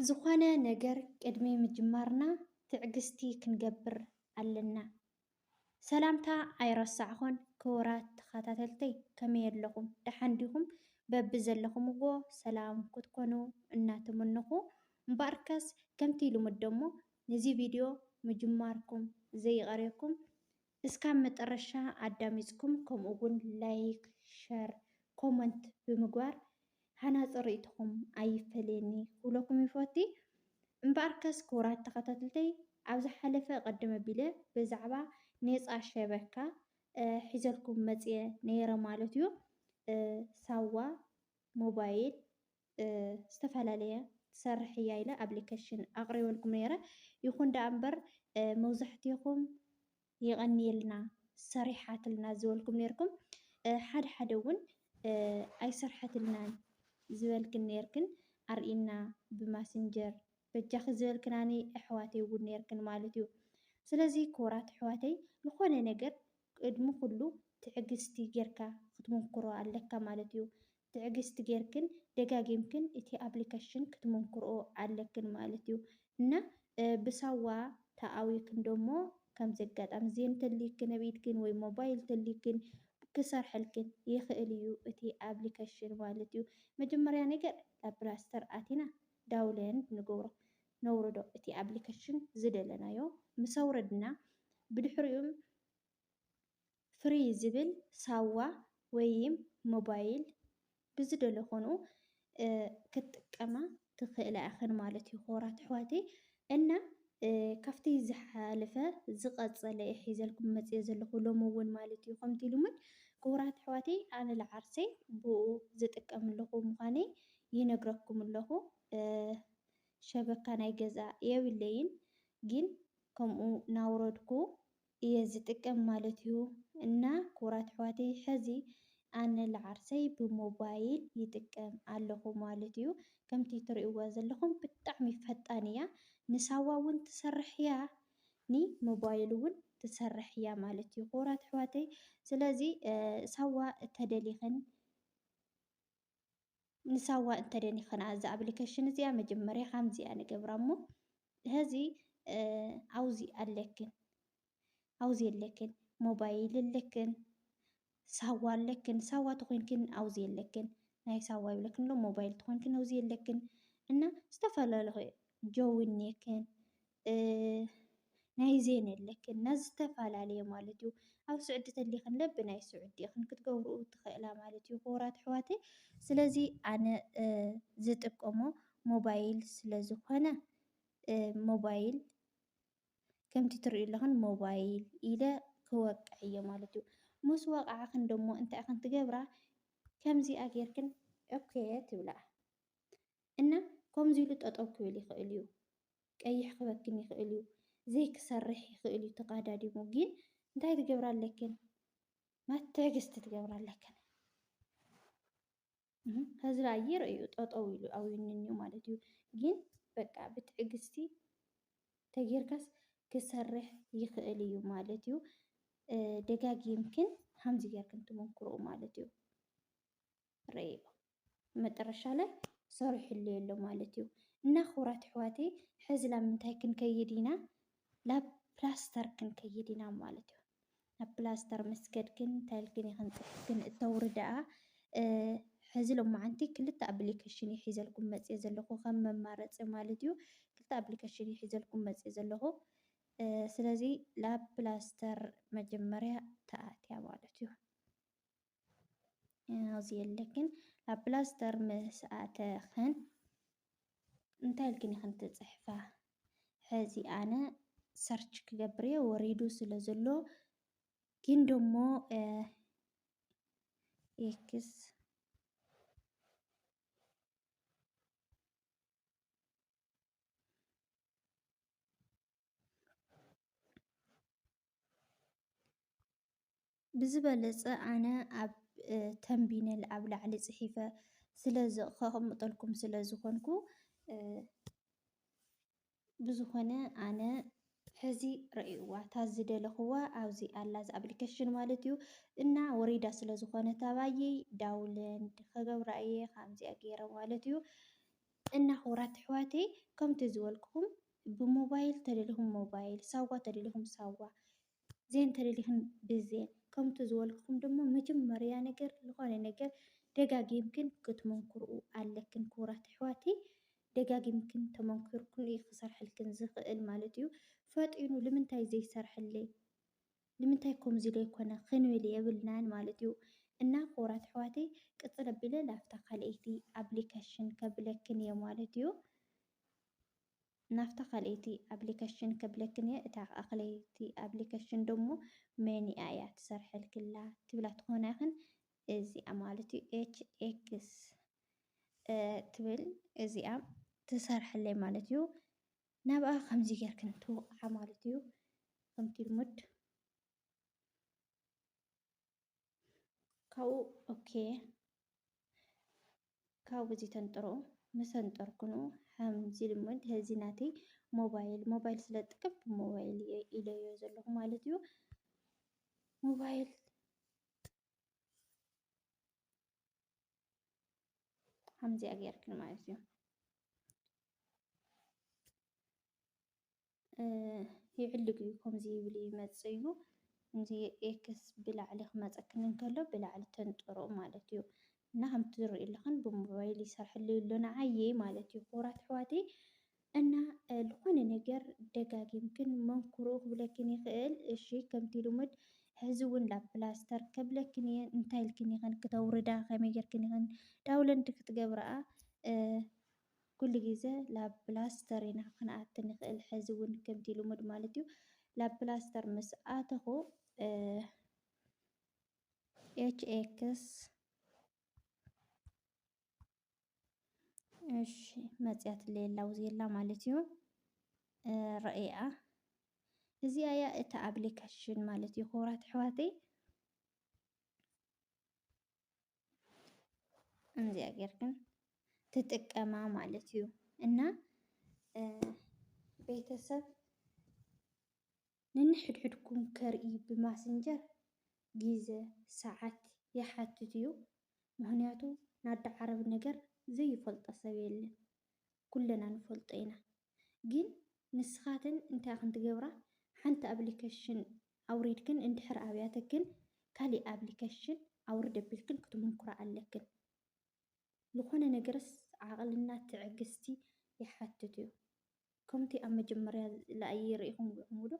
ዝኾነ ነገር ቅድሚ ምጅማርና ትዕግስቲ ክንገብር ኣለና። ሰላምታ ኣይረሳዕኹን ክቡራት ተኸታተልተይ ከመይ ኣለኹም ደሓን ዲኹም? በቢ ዘለኹምዎ ሰላም ክትኮኑ እናተመነኹ እምበኣርከስ ከምቲ ልሙድ ደሞ ነዚ ቪድዮ ምጅማርኩም ዘይቐርየኩም እስካብ መጠረሻ ኣዳሚፅኩም ከምኡ እውን ላይክ ሸር ኮሞንት ብምግባር ሃናፂ ሪኢቶኹም ኣይፈለየኒ ክብለኩም ይፎቲ። እምበኣርከስ ክቡራት ተኸታተልተይ ኣብ ዝሓለፈ ቅድም ኣቢለ ብዛዕባ ኔፃ ሸበካ ሒዘልኩም መፅየ ነይረ ማለት እዩ። ሳዋ ሞባይል ዝተፈላለየ ትሰርሕ እያ ኢለ ኣብሊከሽን ኣቅሪበልኩም ነይረ ይኹን ደኣ እምበር መብዛሕቲኹም የቀንየልና ሰሪሓትልና ዝበልኩም ነይርኩም ሓደ ሓደ እውን ኣይሰርሐትልናን ዝበልክን ነይርክን ኣርእይና ብማስንጀር በጃኺ ዝበልክናኒ ኣሕዋተይ እውን ነይርክን ማለት እዩ ስለዚ ክቡራት ኣሕዋተይ ዝኾነ ነገር ቅድሚ ኩሉ ትዕግስቲ ጌርካ ክትምኩሮ ኣለካ ማለት እዩ ትዕግስቲ ጌርክን ደጋጊምክን እቲ ኣፕሊከሽን ክትሙንክርኦ ኣለክን ማለት እዩ እና ብሳዋ ተኣዊክን ደሞ ከምዚ ኣጋጣሚ እዚ እንተልይክን ኣብ ኢድክን ወይ ሞባይል እንተልይክን ክሰርሐልክን ይክእል እዩ እቲ ኣፕሊከሽን ማለት እዩ መጀመርያ ነገር ኣብ ፕላስተር ኣቲና ዳውለንድ ንገብሮ ነውርዶ እቲ ኣፕሊከሽን ዝደለናዮ ምስ ኣውረድና ብድሕሪኡ ፍሪ ዝብል ሳዋ ወይም ሞባይል ብዝደለኾንኡ ክትጥቀማ ትኽእላ ኢኽን ማለት እዩ ክቡራት ኣሕዋተይ እና ካብቲ ዝሓለፈ ዝቐፀለ እየ ሒዘልኩም መፅየ ዘለኹ ሎሚ እውን ማለት እዩ ከምቲ ልሙድ ክቡራት ኣሕዋተይ ኣነ ለዓርሰይ ብኡ ዝጥቀም ኣለኹ ምዃነይ ይነግረኩም ኣለኹ ሸበካ ናይ ገዛ የብለይን ግን ከምኡ ናውረድኩ እየ ዝጥቀም ማለት እዩ እና ክቡራት ኣሕዋተይ ሐዚ ኣነ ልዓርሰይ ብሞባይል ይጥቀም ኣለኹ ማለት እዩ ከምቲ ትሪእዋ ዘለኹም ብጣዕሚ ፈጣን እያ ንሳዋ እውን ትሰርሕ እያ ንሞባይል እውን ትሰርሕ እያ ማለት እዩ ክቡራት ኣሕዋተይ ስለዚ ሳዋ ተደሊኽን ንሳዋ እንተደን ይኸና እዛ ኣፕሊኬሽን እዚኣ መጀመርያ ከምዚ እያ ንገብራ እሞ ሀዚ ኣውዚ ኣለክን ኣውዚ ኣለክን ሞባይል ኣለክን ሳዋ ኣለክን ሳዋ ተኾይንክን ኣውዚ ኣለክን ናይ ሳዋ ይብለክን ኣሎ ሞባይል ተኾይንክን ኣውዚ ኣለክን እና ዝተፈላለዩ ጆዊን ኔክን ናይ ዜን ኣለክን እና ዝተፈላለየ ማለት እዩ ኣብ ስዑዲ ተሊክን ለብ ናይ ስዑዲ ኢክን ክትገብርኡ ትክእላ ማለት እዩ ክቡራት ኣሕዋተይ ስለዚ ኣነ ዝጥቀሞ ሞባይል ስለ ዝኮነ ሞባይል ከምቲ ትሪኡ ኣለክን ሞባይል ኢለ ክወቅዕ እየ ማለት እዩ ምስ ወቃዕክን ደሞ እንታይ ኢክን ትገብራ ከምዚኣ ጌርክን ኦኬ ትብላ እና ከምዚ ኢሉ ጠጠው ክብል ይክእል እዩ ቀይሕ ክበክን ይክእል እዩ ዘይክሰርሕ ይክእል እዩ ተቃዳዲሙ ግን እንታይ ትገብራ ኣለክን ማት ትዕግስቲ ትገብራ ኣለክን ህዝቢ ኣየር እዩ ጠጠው ኢሉ ኣውዩንንዩ ማለት እዩ። ግን በቃ ብትዕግስቲ ተጌርካስ ክሰርሕ ይኽእል እዩ ማለት እዩ። ደጋጊምክን ከምዚ ጌርክን ትመክርኡ ማለት እዩ። ርእይዎ መጠረሻ ላይ ሰሪሑሉ የሎ ማለት እዩ እና ክቡራት ኣሕዋተይ ሕዚ ላብ ምንታይ ክንከይድ ኢና ላብ ፕላስተር ክንከይድ ኢና ማለት እዩ ናብ ፕላስተር መስገድክን እንታይልክን ይኽን ፅሑፍክን እተውሪ ደኣ ሕዚ ሎማዓንቲ ክልተ ኣፕሊኬሽን እዩ ሒዘልኩም መፅየ ዘለኹ ከም መማረፂ ማለት እዩ ክልተ ኣፕሊኬሽን እዩ ሒዘልኩም መፅየ ዘለኹ ስለዚ ላብ ፕላስተር መጀመርያ ተኣትያ ማለት እዩ ኣብዚ የለክን ኣብ ፕላስተር ምስ ኣተኽን እንታይ ኢልክን ኢኽን ትፅሕፋ ሕዚ ኣነ ሰርች ክገብር እየ ወሪዱ ስለ ዘሎ ግን ደሞ ኤክስ ብዝበለፀ ኣነ ኣብ ተምቢነል ኣብ ላዕሊ ፅሒፈ ስለ ከቅምጠልኩም ስለ ዝኾንኩ ብዝኾነ ኣነ ሕዚ ረእይዋ እታ ዝደለኽዋ ኣብዚ ኣላ እዚ ኣፕሊኬሽን ማለት እዩ እና ወሪዳ ስለ ዝኾነት ኣባየይ ዳውለንድ ከገብራ እየ ከምዚኣ ገይረ ማለት እዩ እና ክቡራት ኣሕዋተይ ከምቲ ዝበልኩኹም ብሞባይል ተደሊኹም ሞባይል ሳዋ ተደሊኹም ሳዋ ዜን ተደሊኽን ብዜን ከምቱ ዝበልክኹም ደሞ መጀመርያ ነገር ልኾነ ነገር ደጋጊምክን ክትመንክርኡ ኣለክን ክቡራት ኣሕዋተይ ደጋጊምክን ተመንኪርክን እዩ ክሰርሐልክን ዝኽእል ማለት እዩ ፈጢኑ ልምንታይ ዘይሰርሐለይ ልምንታይ ከምዚ ዘይኮነ ክንብል የብልናን ማለት እዩ እና ክቡራት ኣሕዋተይ ቅፅል ኣቢለ ላፍታ ካልኣይቲ ኣፕሊኬሽን ከብለክን እየ ማለት እዩ ናፍታ ካልኤቲ ኣብሊከሽን ከብለክን እየ እታ ከኣ ክለይቲ ኣብሊከሽን ደሞ መን እያ እያ ትሰርሐልክላ ትብላ ትኮና ኢክን እዚኣ ማለት እዩ ኤች ኤክስ ትብል እዚኣ ትሰርሐለይ ማለት እዩ ናብኣ ከምዚ ጌርክን ትውቅዓ ማለት እዩ ከምቲ ልሙድ ካብኡ ኦኬ ካብ እዚ ተንጥሮ መሰንጠርኩኑ ከምዚ ልሙድ እዚ ናተይ ሞባይል ሞባይል ስለ ዝጥቀም ብሞባይል ኢለዮ ዘለኹ ማለት እዩ ሞባይል ከምዚኣ ጌርክን ማለት እዩ ይዕልግ እዩ ከምዚ ይብል ይመፅእ እዩ እዚ ኤክስ ብላዕሊ ክመፀክን እንከሎ ብላዕሊ ተንጥሮ ማለት እዩ እና ከምቲ ዝርኢ ኣለኽን ብሞባይል ይሰርሐሉ ኣሎ ንዓየ ማለት እዩ ክቡራት ኣሕዋተይ እና ዝኾነ ነገር ደጋጊምክን መንክሩ ክብለክን ይኽእል እሺ ከምቲ ልሙድ ሕዚ እውን ላብ ፕላስተር ከብለክን እየ እንታይ ኢልክን ይኽን ክተውርዳ ከመይ ጌርክን ይኽን ዳውለንድ ክትገብረኣ ኩሉ ግዜ ላብ ፕላስተር ኢና ክንኣቲ ንክእል ሐዚ እውን ከምቲ ልሙድ ማለት እዩ ላብ ፕላስተር ምስ ኣተኹ ኤች ኤክስ እሺ መፅያት ሌላ ውዜላ ማለት እዩ ረእያ እዚኣ እያ እታ ኣፕሊኬሽን ማለት እዩ ክቡራት ኣሕዋተይ እዚኣ ጌር ግን ትጥቀማ ማለት እዩ እና ቤተሰብ ንንሕድሕድኩም ከርኢ ብማስንጀር ግዘ ሰዓት ይሓትት እዩ። ምክንያቱ ናዳ ዓረብ ነገር ዘይፈልጦ ሰብ የለን፣ ኩለና ንፈልጦ ኢና። ግን ንስኻትን እንታይ ኢኽን ትገብራ ሓንቲ ኣብሊከሽን ኣውሪድክን እንድሕር ኣብያተክን ካሊእ ኣብሊከሽን ኣውርድ ኣቢልክን ክትሙኩራ ኣለክን ልኾነ ነገርስ ዓቅልና ትዕግስቲ ይሓትት እዩ ከምቲ ኣብ መጀመርያ ላኣይ ሪኢኹም ዊዕሙዶ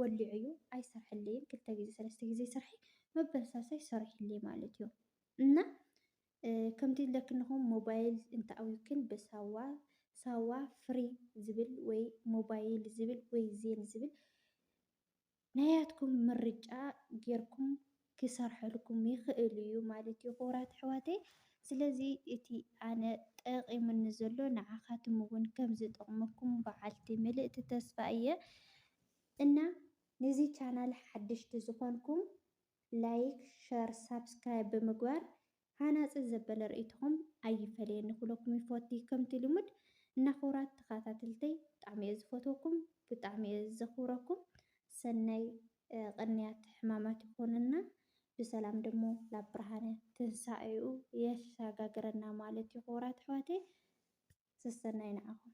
ወሊዑ እዩ ኣይሰርሐለይን ክልተ ግዜ ሰለስተ ግዜ ስርሐ መበልሳሳይ ሰሪሑለይ ማለት እዩ እና ከምቲ ለክንኹም ሞባይል እንተኣውዩክን ብሳዋ፣ ሳዋ ፍሪ ዝብል ወይ ሞባይል ዝብል ወይ ዜን ዝብል ናያትኩም ምርጫ ጌርኩም ክሰርሐልኩም ይኽእል እዩ ማለት እዩ ክቡራት ኣሕዋተይ። ስለዚ እቲ ኣነ ጠቒሙኒ ዘሎ ንዓኻትም እውን ከም ዝጠቕመኩም በዓልቲ ምልእቲ ተስፋ እየ እና ነዚ ቻናል ሓደሽቲ ዝኾንኩም ላይክ ሸር ሳብስክራይብ ብምግባር ሃናጺ ዘበለ ርእይቶኹም ኣይፈለየኒ ክብለኩም ይፎቲ ከምቲ ልሙድ እና ክቡራት ተኻታተልተይ ብጣዕሚ እየ ዝፈትወኩም ብጣዕሚ እየ ዘኽብረኩም ሰናይ ቕንያት ሕማማት ይኾነና ብሰላም ደሞ ላብ ብርሃነ ትንሳኤኡ የሻጋግረና ማለት እዩ ክቡራት ኣሕዋተይ ሰሰናዩ ንዓኹም